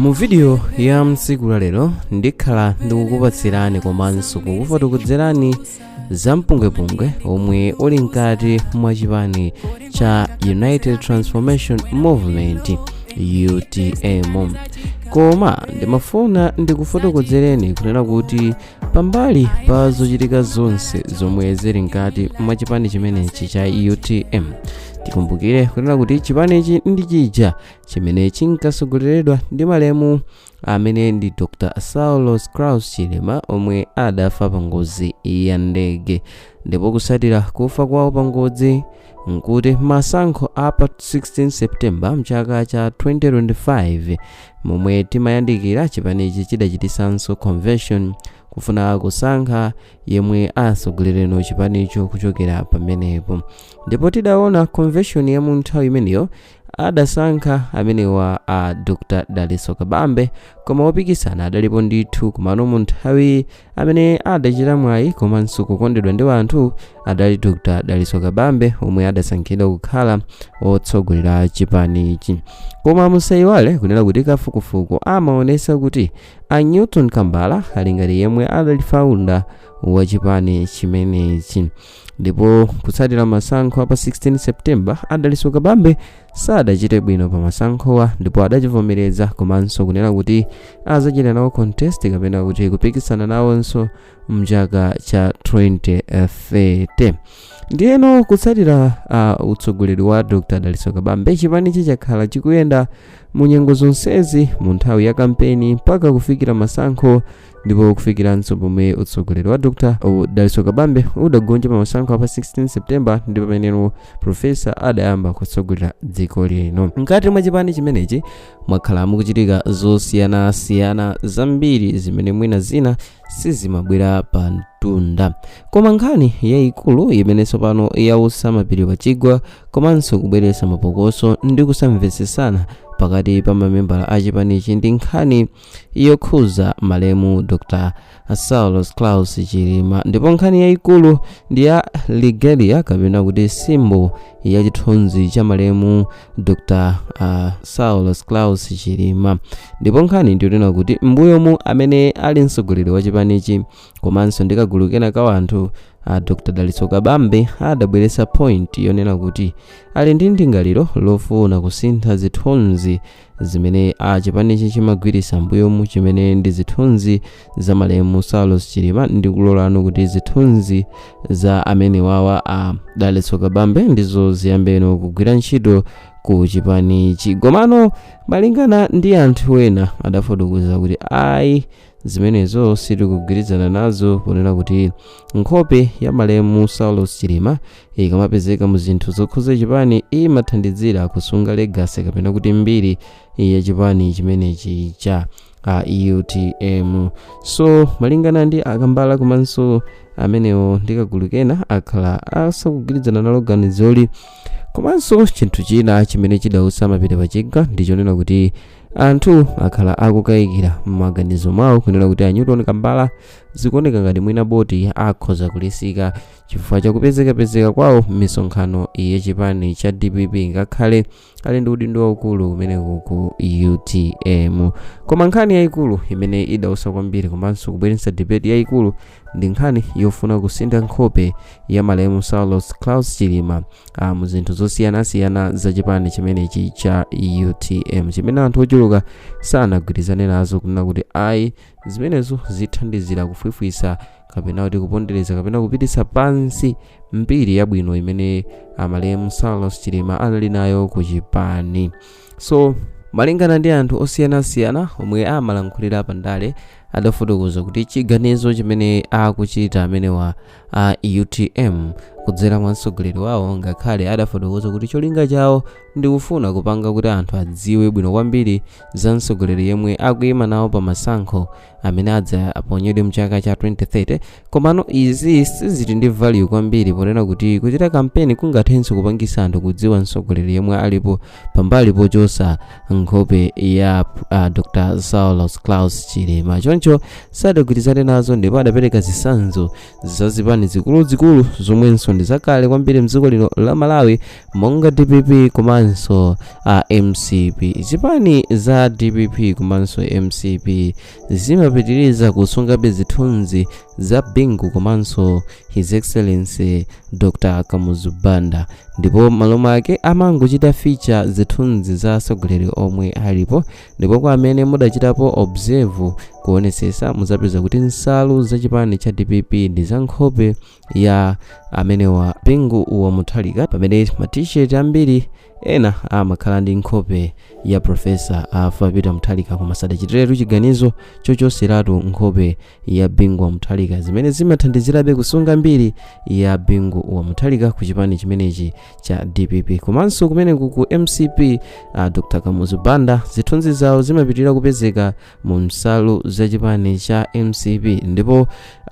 mu vidiyo ya mtsiku la lero ndikhala ndikukupatsirani komanso kukufotokozerani za mpungwepungwe omwe uli mkati mwa chipani cha united transformation movement utm koma ndimafuna ndikufotokozereni kunena kuti pambali pa zochitika zonse zomwe zili mkati mwa chipani chimenechi cha utm tikumbukire kunena kuti chipanichi ndi chija chimene chinkasogoleredwa ndi malemu amene ndi dr saulos klaus chilima omwe adafa pa ngozi ya ndege ndipo kusatira kufa kwawo pa ngozi nkuti masankho a pa 16 september mchaka cha 2025 momwe timayandikira chipanichi chidachitisanso convention kufuna kusankha yemwe atsogolereno chipanicho kuchokera pamenepo ndipo tidaona convention ya mu nthawi imeneyo adasankha amenewa a dr dalitso kabambe koma opikisana adalipo ndithu komano mu nthawi amene adachita mwayi komanso kukondedwa ndi anthu adali dr dalitso kabambe omwe adasankhidwa kukhala otsogolera chipanichi koma musayiwale kunena kuti kafukufuku amaonesa kuti a newton kambala ali ngati yemwe adali founder wa chipani chimenechi ndipo kutsatira masankho a pa 16 september a dalitso kabambe sadachite bwino pa masankhowa ndipo adachivomereza komanso kunena kuti azachita nawo contest kapena kuti kupikisana nawonso mchaka cha 2030 ndiyeno kutsatira uh, utsogoleri wa dr dalitso kabambe chipanichi chakhala chikuyenda mu nyengo zonsezi mu nthawi ya kampeni mpaka kufikira masankho ndipo kufikiranso pomwe utsogoleri wa dr dalitso kabambe udagonja pa masankho a pa 16 september ndi pameneno profesa adayamba kutsogolera dziko lino mkati mwa chipani chimenechi mwakhala mukuchitika zosiyanasiyana zambiri zimene mwina zina sizimabwera pa mtunda koma nkhani yayikulu imene tsopano yautsa mapiri pa chigwa komanso kubweretsa mapokoso ndi kusamvetsesana pakati pa mamembala a chipanichi ndi nkhani yokhuza malemu dr saulos klaus chilima ndipo nkhani yayikulu ndi ya regalia kapena kuti symbol ya chithunzi cha malemu dr uh, saulos klaus chilima ndipo nkhani ndiyonena kuti mbuyomu amene ali mtsogoleri wa chipanichi komanso ndi kagulu kena ka wanthu a dr dalitso kabambe adabweretsa point yonena kuti ali ndi ndingaliro lofuna kusintha zithunzi zimene chipanichi chimagwiritsa mbuyomu chimene ndi zithunzi za malemu saulos chilima ndi kulolano kuti zithunzi za amenewawa a dalitso kabambe ndizo ziyambeno kugwira ntchito ku chipanichi komano malingana ndi anthu ena adafotokoza kuti ayi zimenezo sitikugwirizana nazo ponena kuti nkhope ya malemu saulos chilima ikamapezeka mu zinthu zokhuza chipani imathandizira kusunga legasi kapena kuti mbiri ya chipani chimenechi cha a utm so malingana ndi a kambala komanso amenewo ndi kagulu kena akhala asakugwirizana nalo ganizoli komanso chinthu china chimene chidautsa mapiri pachigwa ndichonena kuti anthu akhala akukayikira m'maganizo mwawo kunena kuti a newton kambala zikuoneka ngati mwina boot akhoza kulisika chifukwa chakupezekapezeka kwawo m'misonkhano yachipani cha dpp ngakhale ali ndi udindo waukulu kumeneko ku utm koma nkhani yayikulu imene idautsa kwambiri komanso kubweretsa debate yayikulu ndi nkhani yofuna kusintha nkhope ya malemu saulos klaus chilima ah, mu zinthu zosiyanasiyana za chipani chimenechi cha utm chimene anthu ochuluka sanagwirizane nazo kunena kuti ayi zimenezo zithandizira kufwifwitsa kapena kuti kupondereza kapena kupititsa pansi mbiri yabwino imene a malemu saulos chilima anali nayo ku chipani so malingana ndi anthu osiyanasiyana omwe amalankhulira pa ndale adafotokoza kuti chiganizo chimene akuchita amenewa a utm kudzera mwa mtsogoleri wawo ngakhale adafotokoza kuti cholinga chawo ndi kufuna kupanga kuti anthu adziwe bwino kwambiri za mtsogoleri yemwe akuyima nawo pa masankho amene adza aponyedwe mchaka cha 2030 komano izi sizili ndi value kwambiri ponena kuti kuchita kampeni kungathenso kupangisa anthu kudziwa mtsogoleri yemwe alipo pambali pochotsa nkhope ya uh, dr saulos klaus chilima choncho sadagwirizane nazo ndipo adapereka zitsanzo za zipani zikuluzikulu zomwenso ndi zakale kwambiri mdziko lino la malawi monga dpp komanso mcp zipani za dpp komanso mcp zimapitiriza kusungabe zithunzi za bingu komanso his excellency dr kamuzu banda ndipo malo mwake amangochita feature zithunzi za atsogoleri omwe alipo ndipo kwa amene mudachitapo observe kuonetsetsa mudzapeza kuti nsalu za chipani cha dpp ndi za nkhope ya amenewa bingu wa muthalika pamene ma t-shirt ambiri ena amakhala ndi nkhope ya profesa arthur peter muthalika koma sadachitiretu chiganizo chochoseratu nkhope ya bingu wa muthalika zimene zimathandizirabe kusunga mbiri ya bingu wa muthalika ku chipani chimenechi cha dpp komanso kumeneko ku mcp uh, dr kamuzu banda zithunzi zawo zimapitirira kupezeka mu nsalu za chipani cha mcp ndipo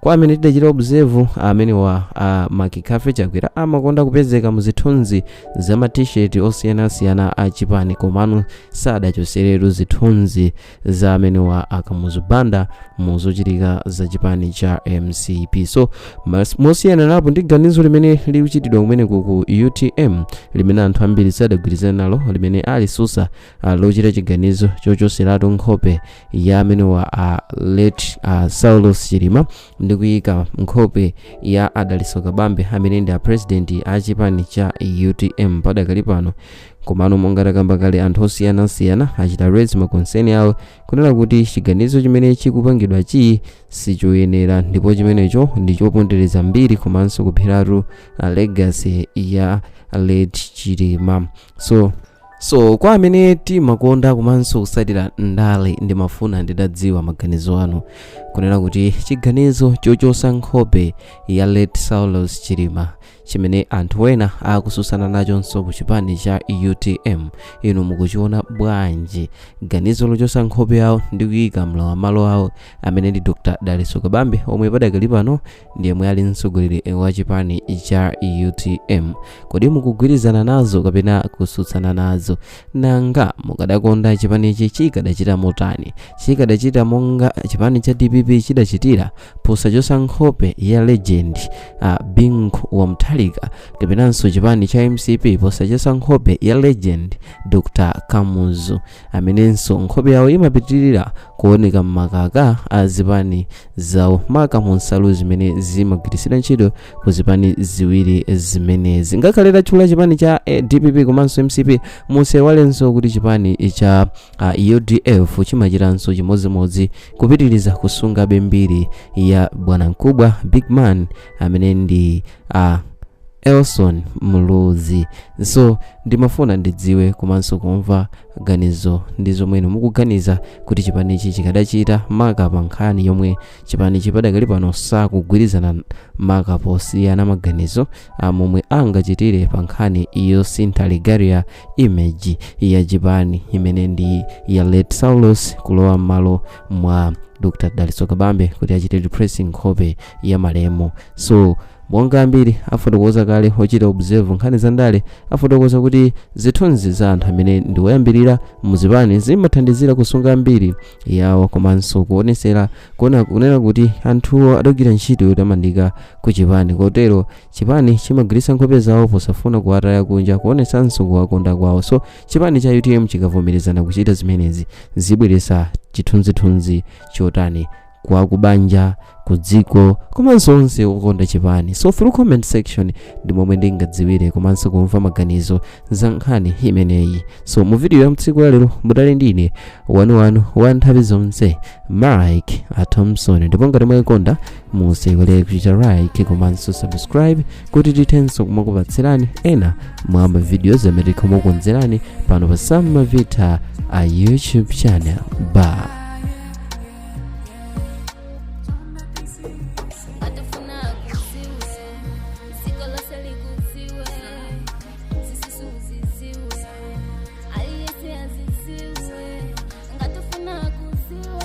kwa amene tidachita observe amenewa a mccarthy chakwera amakonda kupezeka mu zithunzi za ma t-shirt osiyanasiyana a chipani komano sadachoseretu zithunzi za amenewa akamuzu banda mu zochitika za chipani cha mcp so mas- mosiyaniranapo ndi ganizo limene likuchitidwa kumeneko ku utm limene anthu ambiri sadagwirizana nalo limene alitsutsa ah, lochita chiganizo chochoseratu nkhope ya amenewa a late ah, saulos chilima ndi kuyika nkhope ya a dalitso kabambe amene ndi a president a chipani cha utm padakali pano komano monga takamba kale anthu osiyanasiyana achita raise ma concern awo kunena kuti chiganizo chimene chikupangidwachi sichoyenera ndipo chimenecho ndi chopondereza mbiri komanso kupheratu ah, legacy ya late chilima so so kwa amene timakonda komanso kutsatira ndale ndimafuna nditadziwa maganizo anu kunena kuti chiganizo chochosa nkhope ya late saulos chilima chimene anthu ena akutsutsana nachonso ku chipani cha utm inu mukuchiona bwanji ganizo lochosa nkhope yawo ndi kuyika mlowam'malo awo amene ndi dr dalitso kabambe omwe padakali pano ndi yemwe ali mtsogoleri wa chipani cha utm kodi mukugwirizana nazo kapena kutsutsana nazo nanga mukadakonda chipanichi chikadachita motani chikadachita monga chipani cha dpp chidachitira posachosa nkhope ya legend uh, bingu wa muthalika kapenanso chipani cha mcp posachosa nkhope ya legend dr kamuzu amenenso nkhope yawo imapitirira kuoneka m'makaka a zipani zawo maka mu nsalu zimene zimagwiritsidwa ntchito ku zipani ziwiri zimenezi ngakhale tatchula chipani cha eh, dpp komanso mcp musayiwalenso kuti chipani cha uh, udf chimachitanso chimodzimodzi kupitiriza kusungabe mbiri ya bwanamkubwa big man amene ndi uh, elson muluzi so ndimafuna ndidziwe komanso kumva ganizo ndi zomwe inu mukuganiza kuti chipanichi chikadachita maka pa nkhani yomwe chipanichi padakali pano sakugwirizana maka posiyana maganizo a momwe angachitire pa nkhani yosintha regalia image ya chipani imene ndi ya late saulos kulowa m'malo mwa dr daliso kabambe kuti achite replace nkhope ya malemu so monga ambiri afotokoza kale ochita observe nkhani za ndale afotokoza kuti zithunzi za anthu amene ndi oyambirira muzipani zimathandizira kusunga mbiri yawo komanso kuonesera kunena kuti anthuwo adagwira ntchito yotamandika ku chipani kotero chipani chimagwiritsa nkhope zawo posafuna kuwataya kunja kuonesanso kuwakonda kwawo so chipani cha utm chikavomerezana kuchita zimenezi zibweretsa chithunzithunzi chotani kwa kubanja ku dziko komanso onse okonda chipani so through comment section ndi momwe ndingadziwire komanso kumva maganizo za nkhani imeneyi so mu video ya mtsiku la lero mudali ndi ine wanuwanu wa nthawi zonse mike a thompson ndipo ngati mwayikonda musaiwale kuchita like komanso subscribe kuti tithenso kumakupatsirani ena mwa mavidiyo amene tikumakonzerani pano pa sam mavita a youtube channel bye ngatafuna akuziwe dziko lonse likudziwe zisusu uziziwe aliyese aziziwe ngatafuna akuziwe